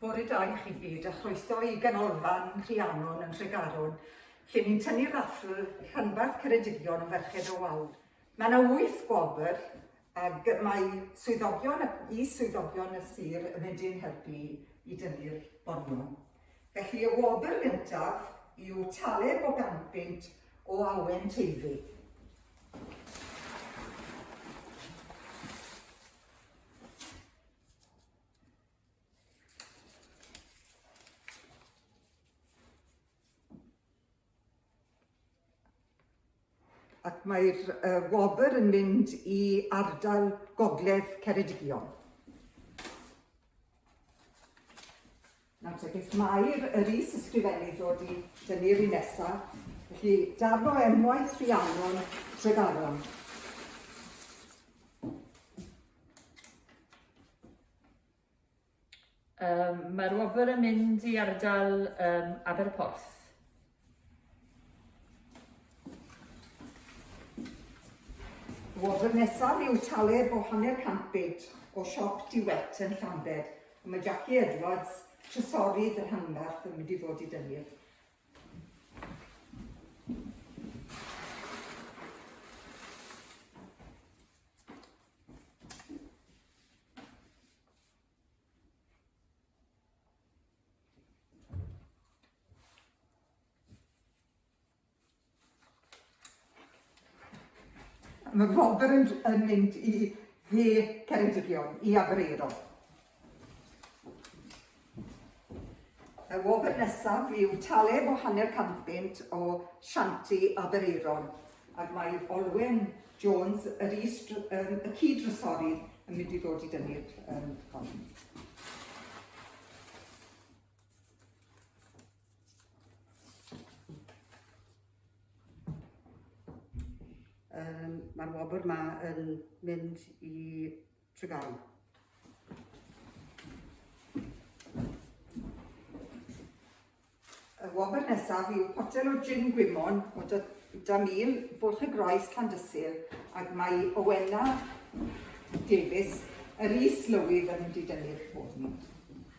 Bore da i chi gyd a chroeso i Ganolfan Rhiannon yn Nhregaron, lle ni'n tynnu raffl rhanbarth Ceredigion o Ferched o Wawr. Mae yna wyth gwobr ac mae swyddogion ac i swyddogion y sir yn mynd i'n helpu i dynnu'r bonion. Felly y wobr gyntaf yw Taleb o Gampynt o Awen Teifi. ac mae'r uh, wobr yn mynd i ardal Gogledd Ceredigion. Nawr te, beth mae'r yr is-ysgrifennydd ddod i dynnu yr un nesaf, felly darn o enwaith Rhiannon Tregaron. Um, Mae'r wobr yn mynd i ardal um, Aberporth. Wobr nesaf yw Taleb o hanner cant bid o siop Duet yn Llambed. A mae Jackie Edwards, trysorydd y rhanbarth, yn mynd i ddod i dynnu. Mae Robert yn, yn mynd i dde Ceredigion, i Abreiro. Y wobr nesaf yw taleb o hanner cant bunt o Shanti Abreiron, ac mae Olwen Jones, yr is, um, y cyd-drysori, yn mynd i ddod i dynnu'r um, hon. Um, Mae'r wobr yma yn mynd i Tregaron. Y wobr nesaf yw potel o gin gwymon o da mil bwlch y groes Llandysul ac mae Owena Davies, yr is lywydd yn mynd i dynnu'r ffôn.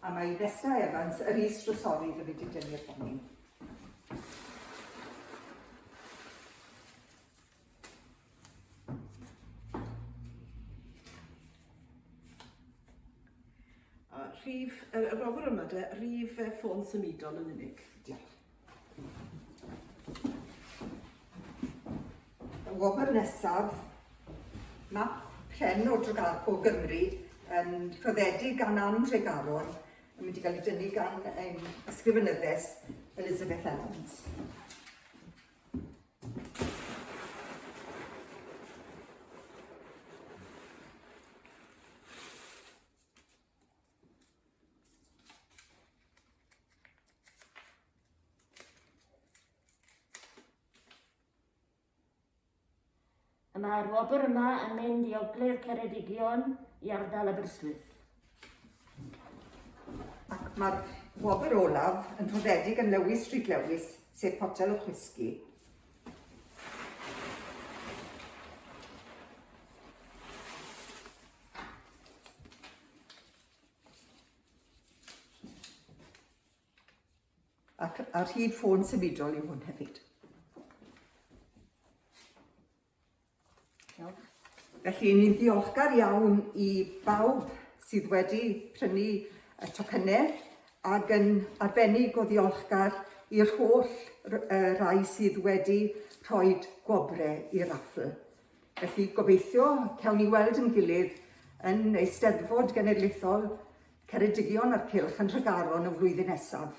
A mae Nesta Evans, yr is-drysori, yn mynd i dynnu'r honni. rhif, y, y rofr yma de, rhif e, ffôn symudol yn unig. Diolch. Y wobr nesaf, mae pren o, o Gymru yn rhoddedig gan Ann Tregaron yn mynd i gael ei dynnu gan ein ysgrifenyddes Elizabeth Evans. Y mae'r wobr yma yn mynd i Ogledd Ceredigion i ardal Aberystwyth. Ac mae'r wobr olaf yn rhoddedig yn Lewis Street Lewis, sef Potel o Chwisgi. Ac ar hyd ffôn symudol yw hwn hefyd. Felly, ni'n ddiolchgar iawn i bawb sydd wedi prynu y tocynnau ac yn arbennig o ddiolchgar i'r holl rai sydd wedi rhoi gwobrau i'r raffl. Felly, gobeithio cawn ni weld yn gilydd yn Eisteddfod Genedlaethol Ceredigion a'r Cylch yn Nhregaron y flwyddyn nesaf.